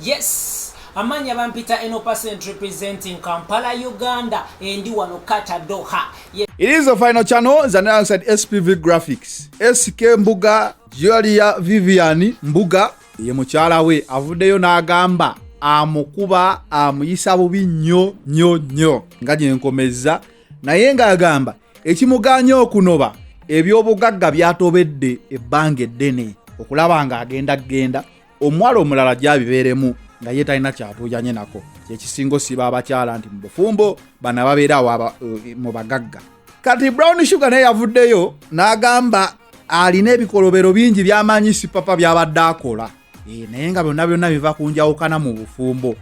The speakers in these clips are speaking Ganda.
Yes. Amanya bampita eno percent representing Kampala, Uganda, endi wano kata Doha. Yes. It is the final channel, Zanera said SPV Graphics. SK Mbuga, Julia Viviani Mbuga, ye mukyala we avuddeyo n'agamba amukuba amuyisa bubi nnyo nnyo nnyo nga gyenkomezza naye ng'agamba ekimuganye okunoba ebyobugagga byatobedde ebbanga eddene okulaba nga agenda genda omuwala omulala gyabibeeremu nga ye talina kyatuuyanye nako kyekisinga osiba abakyala nti mu bufumbo bana babeerawo eh, mu bagagga kati brown sugar naye yavuddeyo n'agamba alina ebikolobero bingi byamanyi sipapa byabadde akola eh, naye nga byonna byonna biva ku njawukana mu bufumbo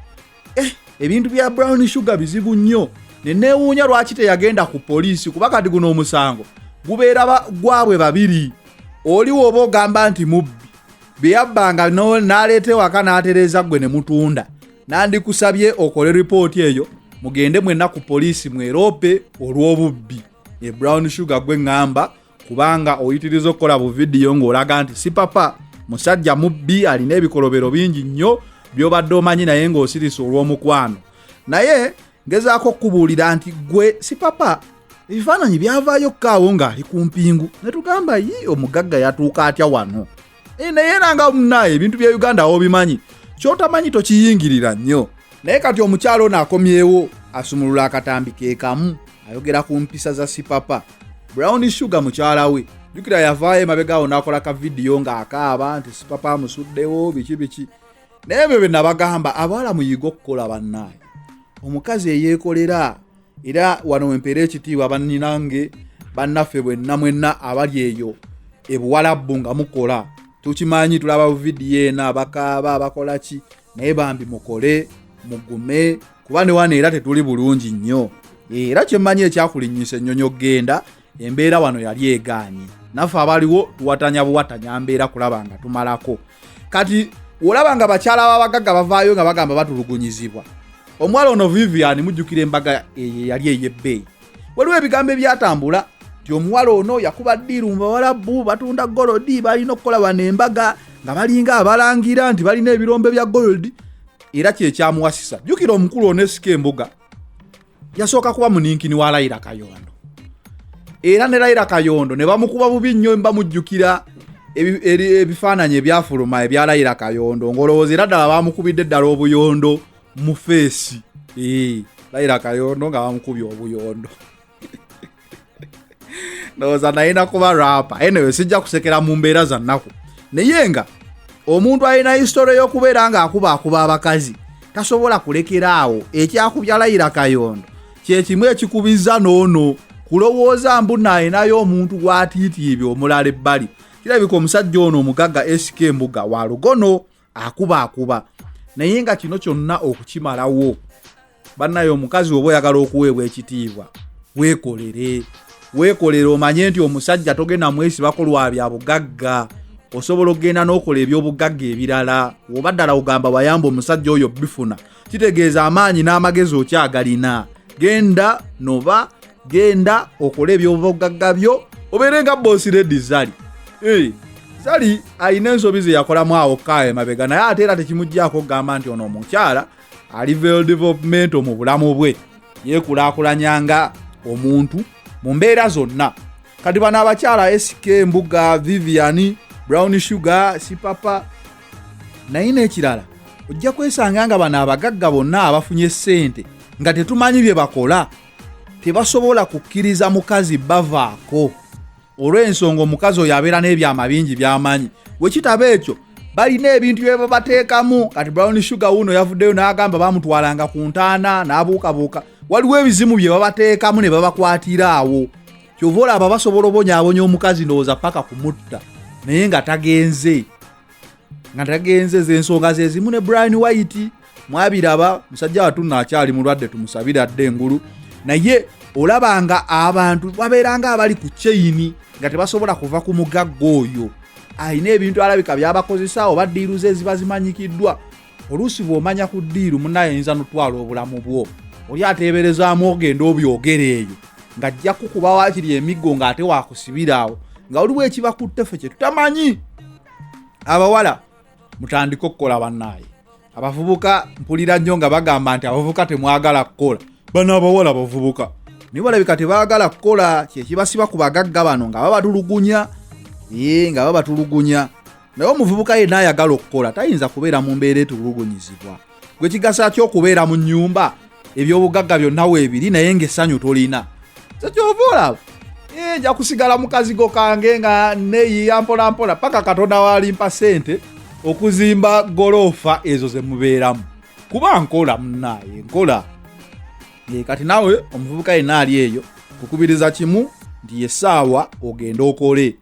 eh, ebintu bya brown sugar bizibu nnyo neneewuunya lwaki teyagenda ku poliisi kuba kati guno omusango gubeera gwabwe babiri oli woba ogamba nti mubbi byeyabbanga n'aleeta ewaka n'atereeza ggwe ne mutunda nandikusabye okole ripooti eyo mugende mwenna ku poliisi mweroope olw'obubbi e brown sugar gwe ŋŋamba kubanga oyitiriza okukola bu vidiyo ng'olaga nti si papa musajja mubbi alina ebikolobero bingi nnyo byobadde omanyi naye ng'osirisa olw'omukwano naye ngezaako okukubuulira nti gwe si papa ebifaananyi byavaayo kukaawo ng'ali ku mpingu ne tugamba yi omugagga yatuuka atya wano Eh, naye era nga munaye ebintu bya uganda awo bimanyi kyotamanyi tokiyingirira nnyo naye kati omukyalo ono akomyewo asumulula akatambi kekamu ayogera ku mpisa za sipapa brown sugar mukyala we jukira yavaayo emabegawo nakola ka vidiyo ng'akaaba nti sipapa amusuddewo biki biki naye ebyo bye nabagamba abawala muyiga okukola bannaye omukazi eyeekolera era wano wempeera ekitiibwa banninange bannaffe bwenna mwenna abali eyo ebuwalabbu nga mukola tukimanyi tulaba buvidiyo eno abakaaba abakola ki naye bambi mukole mugume kuba ne wano era tetuli bulungi nnyo era kyemmanyi ekyakulinyisa ennyonyi okugenda embeera wano yali egaanye naffe abaliwo tuwatanya buwatanya mbeera kulaba nga tumalako kati olaba nga bakyala babagagga bavaayo nga bagamba batulugunyizibwa omuwala ono vivian mujjukira embaga eye yali eyebbeeyi waliwo ebigambo ebyatambula ti omuwala ono yakuba ddiiru mu bawalabu batunda golodi balina okukola bano embaga nga balinga abalangira nti balina ebirombe bya golodi era kyekyamuwasisa jjukira omukulu onesika embuga yasooka kuba muninkini wa layira kayondo era ne layira kayondo ne bamukuba bubi nnyo bamujjukira ebifaananyi ebyafuluma ebya layira kayondo ng'olowooza era ddala bamukubidde ddala obuyondo mu feesi layira kayondo nga bamukubye obuyondo ndowooza naye nakuba rapa anyway sijja kusekera mu mbeera za nnaku naye nga omuntu alina hisitore y'okubeera ng'akuba akuba abakazi tasobola kulekera awo ekyakubya layira kayondo kyekimu ekikubizza noono kulowooza mbu nayinayo omuntu gwatiitiibya omulala ebbali kirabika omusajja ono omugagga sk mbuga wa lugono akuba akuba naye nga kino kyonna okukimalawo bannaye omukazi oba oyagala okuweebwa ekitiibwa weekolere weekolere omanye nti omusajja togenda mwesibako lwa bya bugagga osobola okugenda n'okola ebyobugagga ebirala oba ddala ogamba wayamba omusajja oyo bifuna kitegeeza amaanyi n'amagezi okyagalina genda noba genda okole ebyobugagga byo obeere nga bosi redi zali eh, zali alina ensobi zeyakolamu awo kaayo emabega naye ate era tekimugyako okugamba nti ono omukyala ali veldevelopmento mu bulamu bwe yekulaakulanya nga omuntu mu mbeera zonna kati bano abakyala sk mbuga vivian brown sugar sipapa naye n'ekirala ojja kwesanga nga bano abagagga bonna abafunye ssente nga tetumanyi bye bakola tebasobola kukkiriza mukazi bavaako olw'ensonga omukazi oyo abeera n'ebyama bingi byamanyi wekitaba ekyo balina ebintu byebabateekamu kati brown sugar wuno yavuddeyo n'agamba bamutwalanga ku ntaana n'abuukabuuka waliwo ebizimu bye babateekamu ne babakwatira awo kyova olaba basobola obonyabonya omukazi ndowooza paka kumutta naye nga tagenze nga tagenze zensonga zezimu ne brian white mwabiraba musajja watunna akyali mulwadde tumusabire adde engulu naye olaba nga abantu babeera nga abali ku kyeyini nga tebasobola kuva ku mugagga oyo alina ebintu alabika byabakozesa oba diiru ze ziba zimanyikiddwa oluusi bw'omanya ku ddiiru munaye oyinza notwala obulamu bwo oli ateeberezaamu ogenda obyogera eyo ng'ajja kukuba waakiri emiggo ng'ate waakusibiraawo nga oliwo ekiba ku ttefe kye tutamanyi abawala mutandike okukola bannaaye abavubuka mpulira nnyo nga bagamba nti abavubuka temwagala kukola bano abawala bavubuka naye balabika tebaagala kukola kyekibasiba ku bagagga bano nga babatulugunya ee nga babatulugunya naye omuvubuka yenna ayagala okukola tayinza kubeera mu mbeera etulugunyizibwa gwe kigasa ki okubeera mu nyumba ebyobugagga byonna weebiri naye ngaessanyu tolina kyekyova olaba eh, nja kusigala mukazigo kange nga neyiya mpolampola paka katonda walimpa sente okuzimba goloofa ezo zemubeeramu kuba nkola munaaye nkola eh, kati nawe omuvubuka yenna ali eyo kukubiriza kimu nti yesaawa ogende okole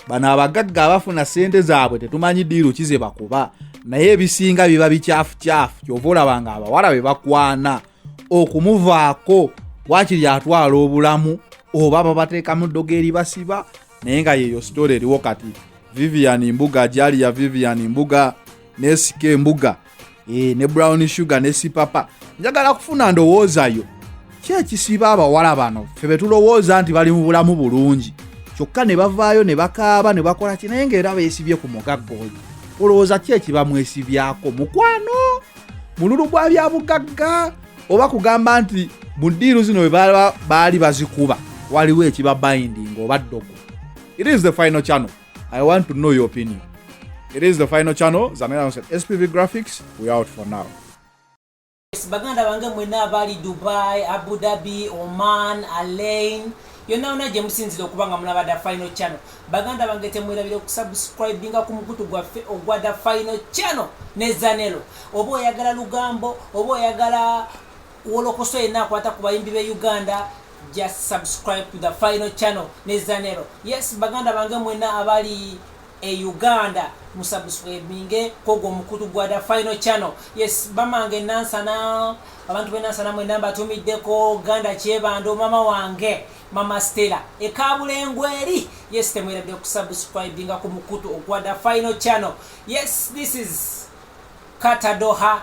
bano abagagga abafuna sente zaabwe tetumanyi diiru ki zebakuba naye ebisinga biba bikyafukyafu kyova olaba nga abawala be bakwana okumuvaako wakiri atwala obulamu oba babateekamu ddogo eri basiba naye nga yeeyo sitore eriwo kati vivian mbuga jaliya vivian mbuga nesika embuga e, ne brown sugar ne sipapa njagala kufuna ndowoozayo ki ekisiba abawala bano fe betulowooza nti bali mu bulamu bulungi kyokka ne bavaayo ne bakaaba ne bakola ki naye ngaera beesibye ku mugagga oyo olowooza ki ekibamwesibyako mukwano mululu gwa byabugagga oba kugamba nti mu ddiiru zino bwe baali bazikuba waliwo ekiba binding oba ddogo it is the final channel I want to know your opinion. It is the final channel. Zamela said SPV Graphics. We out for now. baganda bange mwena abali dubai abu dhabi oman alain yonna yona gye musinzira okuba nga mulaba da final channel baganda bange temwerabire okusubscribinga ku mukutu gwaffe ogwa da final channel ne zanelo oba oyagala lugambo oba oyagala wolokoso yenna akwata ku bayimbi be uganda just subscribe to the final channel ne zanero yes baganda bange mwena abali e uganda musubscribinge kogwo omukutu gwa the final channel yes bamange nansana abantu benansana mwena mbatumiddeko ganda kyebando mama wange mama stela ekabulengwe eri yes temweradde okusubscribinga ku mukutu ogwa the final channel yes this is katadoha